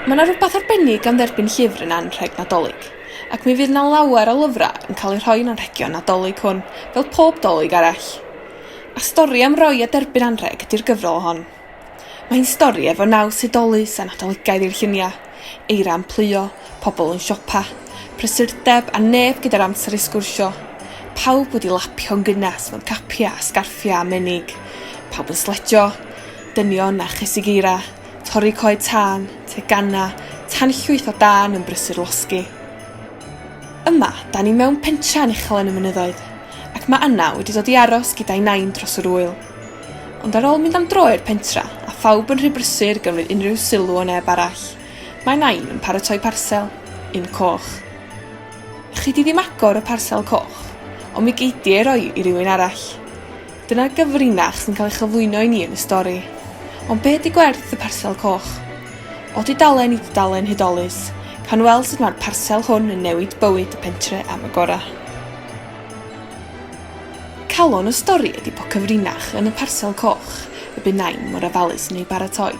Mae yna rhywbeth arbennig am dderbyn llyfr yn anrheg Nadolig, ac mi fydd yna lawer o lyfrau yn cael eu rhoi yn anrhegion Nadolig hwn, fel pob Dolig arall. A stori am roi a derbyn anrheg ydy'r gyfrol hon. Mae'n stori efo naws hudolus a Nadoligaidd i'r lluniau. Eira yn pluo, pobl yn siopa, prysurdeb a neb gyda'r amser i sgwrsio. Pawb wedi lapio'n gynnes mewn capiau a sgarffiau a menig. Pawb yn sledjo. Dynion a chysig eira, torri coed tân, teganau, tanllwyth o dân yn brysur losgi. Yma, da ni mewn pentre anuchel yn y mynyddoedd, ac mae Anna wedi dod i aros gyda'i nain dros yr ŵyl. Ond ar ôl mynd am dro i'r pentra, a phawb yn rhy brysur gymryd unrhyw sylw o neb arall, mae Nain yn paratoi parsel. Un coch. Chi 'di ddim agor y parsel coch, ond mi gei di ei roi i rywun arall. Dyna'r gyfrinach sy'n cael ei chyflwyno i ni yn y stori. Ond be ydi gwerth y parsel coch? O dudalen i dudalen hudolus, cawn weld sut mae'r parsel hwn yn newid bywyd y pentre am y gorau. Calon y stori ydi po cyfrinach yn y parsel coch y bu Nain mor ofalus yn ei baratoi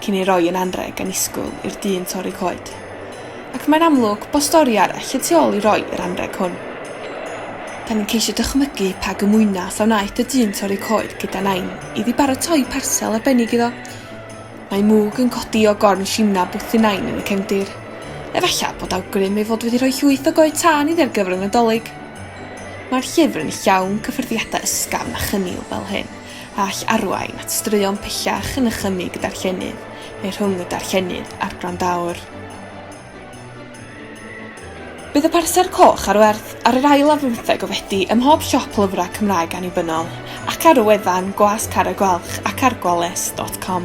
cyn ei roi yn anrheg annisgwyl i'r dyn torri coed. Ac mae'n amlwg bo stori arall y tu ôl i roi yr anrheg hwn. Da ni'n ceisio dychmygu pa gymwynas a wnaeth y dyn torri coed gyda Nain iddi baratoi parsel arbennig iddo. Mae mwg yn codi o gorn Shimna Buthynain yn y cefndir. Efallai bod awgrym ei fod wedi rhoi llwyth o goed tân iddi ar gyfer y Nadolig. Mae'r llyfr yn llawn cyffyrddiadau ysgafn a chynnil fel hyn, a all arwain at straeon pellach yn nychymyg y darllenydd, neu rhwng y darllenydd a'r gwrandaowr. Bydd y parser coch ar werth ar yr ail ar fymtheg o Fedi ym mhob siop lyfrau Cymraeg annibynnol, ac ar y wefan Gwas Carreg Gwalch ac ar gwales dot com.